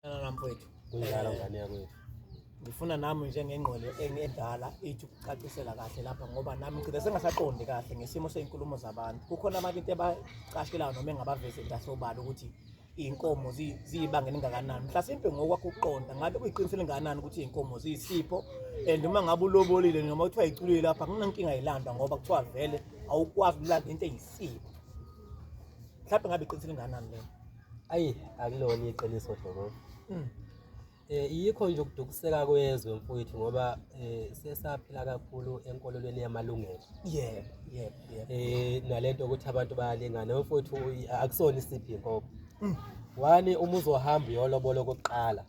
Ngala mfowethu. Kunjalo eh, ngane yakwethu. Ngifuna nami njengengqwele engedala ithi ukucacisela kahle lapha ngoba nami ngicela sengasaqondi kahle ngesimo sezinkulumo zabantu. Kukhona abantu into ebacashelayo noma engabavezeli kahle obala ukuthi iy'nkomo ziyibanga elingakanani mhlasimpe ngokwakho ukuqonda ngabe kuyiqiniso elingakanani ukuthi iy'nkomo ziyisipho and uma ngabe ulobolile noma kuthiwa yiculile lapha kunankinga yilanda ngoba kuthiwa vele awukwazi ukulanda into eyisipho mhlawumbe ngabe iqiniso elingakanani lena Ayi akulona iqiniso Dlomo. Mm. Eh yikho nje ukudukuseka kwezwe mfowethu ngoba eh sesaphila kakhulu enkolelweni yamalungelo. Yebo, yebo, yebo. Eh nalento ukuthi abantu bayalingana mfowethu uyi- akusona isiphi inkomo. Mm. Wani uma uzohamba uyolobola okokuqala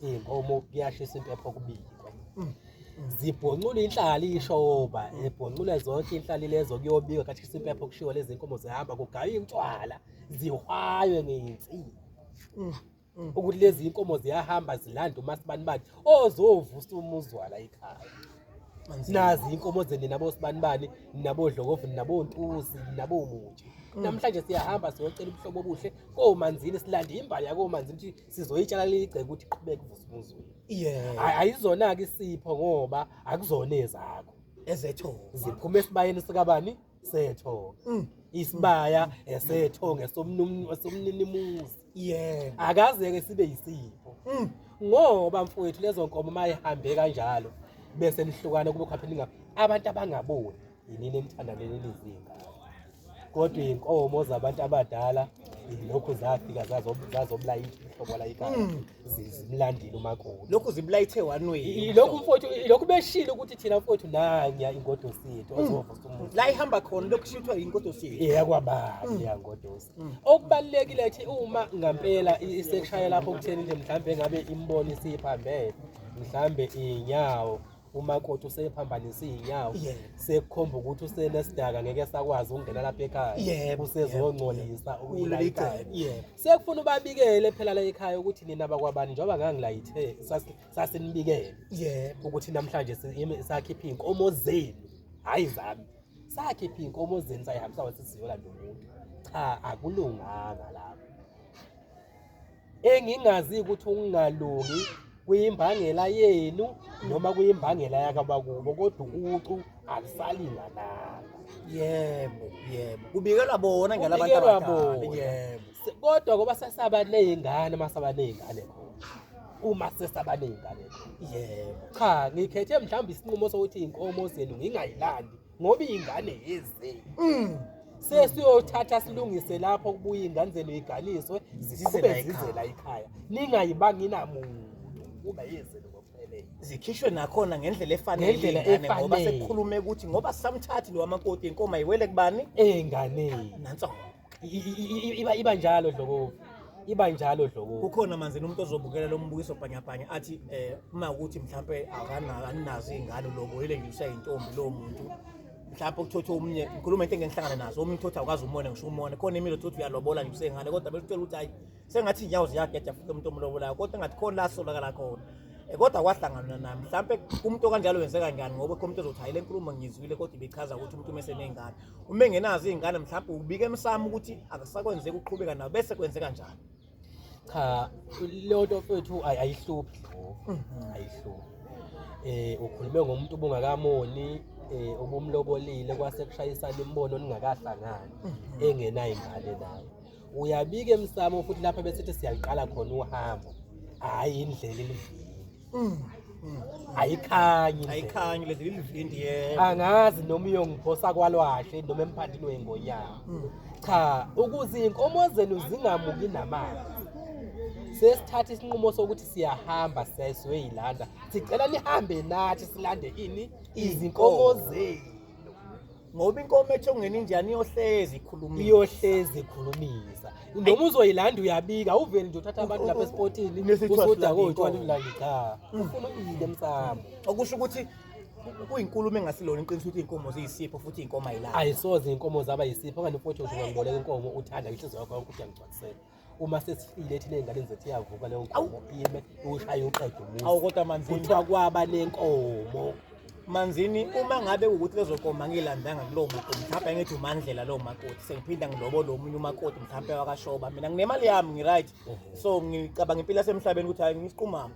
inkomo kuyashisa impepho kubikwe. Mm. Zibhoncula inhlali ishoba, ebhoncula zonke inhlali lezo kuyobikwa kathi impepho kushiwo lezi nkomo zihamba kugaywa intshwala. zihwaywe ngensini mm, mm. ukuthi lezi inkomo ziyahamba zilanda umasibani bani ozovusa umuzwala ekhaya nazi inkomo zeni nabosibani bani nabodlokovu nabontuzi nabomutshe mm. namhlanje siyahamba siyocela ubuhlobo obuhle komanzini silande imbali yakomanzini ukuthi sizoyitshala leligceke ukuthi iqhubeke uvusa umuzweni ayizona-ke isipho ngoba akuzona ezakho ezethu ziphuma esibayeni sikabani setho mm. isibaya esetho ngesomnumni wasomninimuzi yeah akaze ke sibe yisipho mm. ngoba mfowethu lezo nkomo mayihambe kanjalo bese nihlukana kube khaphe ninga abantu abangaboni yinini enithanda leli lizinga kodwa inkomo zabantu abadala lokhu zafika zazobulayitha uhlobo layikala mm. zimlandile umakoti lokhu zibulayithe wanweni lokhu mfowethu lokhu beshilo ukuthi thina mfowethu nanya ingodosi yethu hmm. ozovusa umuntu la ihamba khona lokhu shithwa ingodosi yethu eyakwababa hmm. ya ngodosi hmm. okubalekile ukuthi uma ngampela isekushaya lapho kutheni nje mhlambe ngabe imboni siphambene mhlambe inyawo umakoti usephambanisa iy'nyawo Yebo. sekukhomba ukuthi usenesidaka ngeke esakwazi ukungena lapha ekhaya Yebo, usezongcolisa Kuleli ukuyilayitha cala, yebo. sekufuna ubabikele phela la ekhaya ukuthi nina bakwabani njengoba ngangilayithe sasi- sasinibikele yebo ukuthi namhlanje si- yimi- sakhipha iy'nkomo zenu hhayi zami sakhipha iy'nkomo zenu sayihambisa wathi siyolanda umuntu cha akulunganga lapho engingazi ukuthi ukungalungi kuyimbangela yenu noma kuyimbangela yakabakubo kodwa ucu alisalingananga yebo yebo kubikelwa bona ngela abantu Kubikelwa abadala bona. yebo Se- kodwa ngoba sesaba ney'ngane uma saba ney'ngane khona uma sesaba ney'ngane khona yebo cha ngikhethe mhlawumbe isinqumo sokuthi iy'nkomo zenu ngingayilandi ngoba ingane yeze mm. sesiyothatha silungise lapho kubuya inganzelo iganiswe zikhube zizela ikhaya ningayibanga inamuntu kuba yezelo zikhishwe nakhona ngendlela efanele ngoba sekukhulume ukuthi ngoba samthathi lo wamakoti inkomo ayiwele kubani enganeni nanso iba iba njalo dlokovu iba njalo dlokovu kukhona manje nomuntu ozobukela lo mbukiso bhanyabhanya athi eh uma ukuthi mhlawumbe akananazo izingane lobo yile nje usayintombi lo muntu mhlawumbe ukuthothi omunye ngikhuluma into engihlangana nazo omunye uthothi akwazi umona ngisho umona khona imilo uthothi uyalobola nje usengane kodwa besithola ukuthi hayi sengathi inyawo ziyageja futhi umuntu omlobolayo kodwa engathi khona la solakala khona eh, kodwa kwahlangana nami mhlawumbe umuntu okanjalo wenzeka njani ngoba khona umuntu ozothi hayi le nkulumo ngiyizwile kodwa ibichaza ukuthi umuntu umeseney'ngane uma engenazo iy'ngane mhlawumbe ubike emsamo ukuthi akusakwenzeka uqhubeka nawo bese kwenzeka njani cha leyo nto fethu ayi- ayihluphi Mhm. ayihluphi eh ukhulume ngomuntu obungakamoni eh obumlobolile kwase kushayisana imibono ningakahlangani engenayo ingane naye uyabika emsamo futhi lapha besithi siyaliqala khona uhambo hhayi indlela elivile mm, mm. ayikhanyi ayikhanyi lezi ilivindi yebo angazi noma uyongiphosa kwalwahle noma emphandini weyingonyama mm. cha ukuze iy'nkomo zenu zingamuki namanzi sesithatha isinqumo sokuthi siyahamba siyayisiwe yilanda sicela nihambe nathi silande ini izinkomo zenu ngoba inkomo ethi ongena injani iyohlezi ikhulumisa iyohlezi ikhulumisa noma uzoyilanda uyabika uveli nje uthatha abantu lapha esipotini usudakoyitwala ulandi cha mm. ufuna uyile msamo okusho ukuthi kuyinkulumo engasilona iqiniso ukuthi iy'nkomo ziyisipho futhi iy'nkomo ayilani ayisoze iy'nkomo zaba yisipho okanye ufothi uzoba ngiboleka inkomo uthanda inhliziyo yakho yonke ukuthi angigcwalisele uma sesifile thina ey'nganeni zethu iyavuka leyo nkomo ime iwushaye uqede umuzi awu kodwa manzini kuthiwa kwaba nenkomo manzini uma ngabe ukuthi lezo nkomo angilandanga kulowo makoti mhlawumbe angithi umandlela lowo makoti sengiphinda ngilobole omunye umakoti mhlawumbe wakashoba mina nginemali yami ngi-right so ngicabanga impilo yasemhlabeni ukuthi hayi ngisiqumama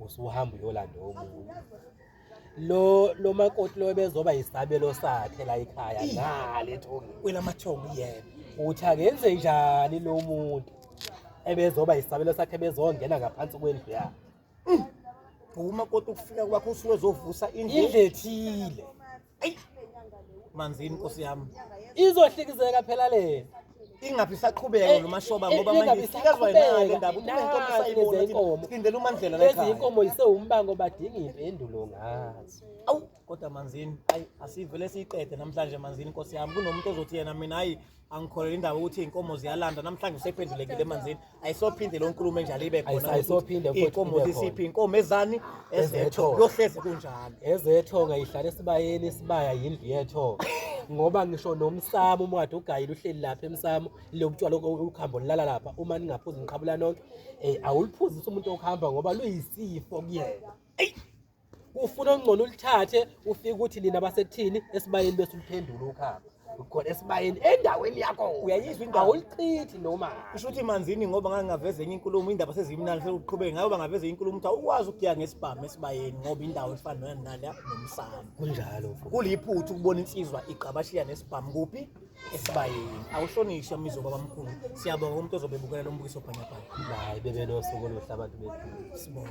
usuhamba uyolanda omunye lo lo makoti lo bezoba yisabelo sakhe la ekhaya ngale thongi wena mathongi yena uthi akenze njani lo muntu ebezoba yisabelo sakhe bezongena ngaphansi kwendlu yakhe uma kodwa ukufika kwakho usuke zovusa indle ethile manzini nkosi yami izohlikizeka phela le ingabe isaqhubeka eh, lomashoba eh, ngoba manje isikezwa yena ke ndaba unenkomo sayibona inkomo sindele umandlela la ekhaya inkomo isewumbango badinga impendulo ngazo awu kodwa manzini ayi asivele siyiqede namhlanje manzini nkosi yami kunomuntu ozothi yena mina ayi angikholelwa indaba ukuthi iy'nkomo ziyalanda namhlanje usephendulekile emanzini ayisophinde leyo nkulumo enjalo ibe khona Ayisa- ayisophinde ukuthi futhi iy'nkomo ibe zisiphi khona. iy'nkomo ezani Ezetho. ezetho kuyohlezi kunjalo ezetho ngayihlala esibayeni isibaya yindlu yetho ngoba ngisho nomsamo uma kade ugayile uhleli lapha emsamo lobutshwala ukhambo lilala lapha uma ningaphuzi niqhabula nonke um awuliphuzisi umuntu okuhamba ngoba luyisifo kuyena ufuna ongcono ulithathe ufike ukuthi nina basekuthini esibayeni bese uliphendula ukhamba ukhona esibayeni endaweni yakho uyayizwa indawo ulichithi noma usho ukuthi manzini ngoba ngangingaveza enye inkulumo indaba sezimnani sekuqhubeke ngayo bangaveza inkulumo ukuthi awukwazi ukuya ngesibhamu esibayeni ngoba indawo efana noyani nale nomsamo kunjalo kuliphutha ukubona insizwa igqabashiya nesibhamu kuphi esibayeni awuhlonishwa mizo babamkhulu siyabonga umuntu ozobe bukela lombukiso bhanyabhanya hayi bebe nosuku oluhle abantu bethu sibonga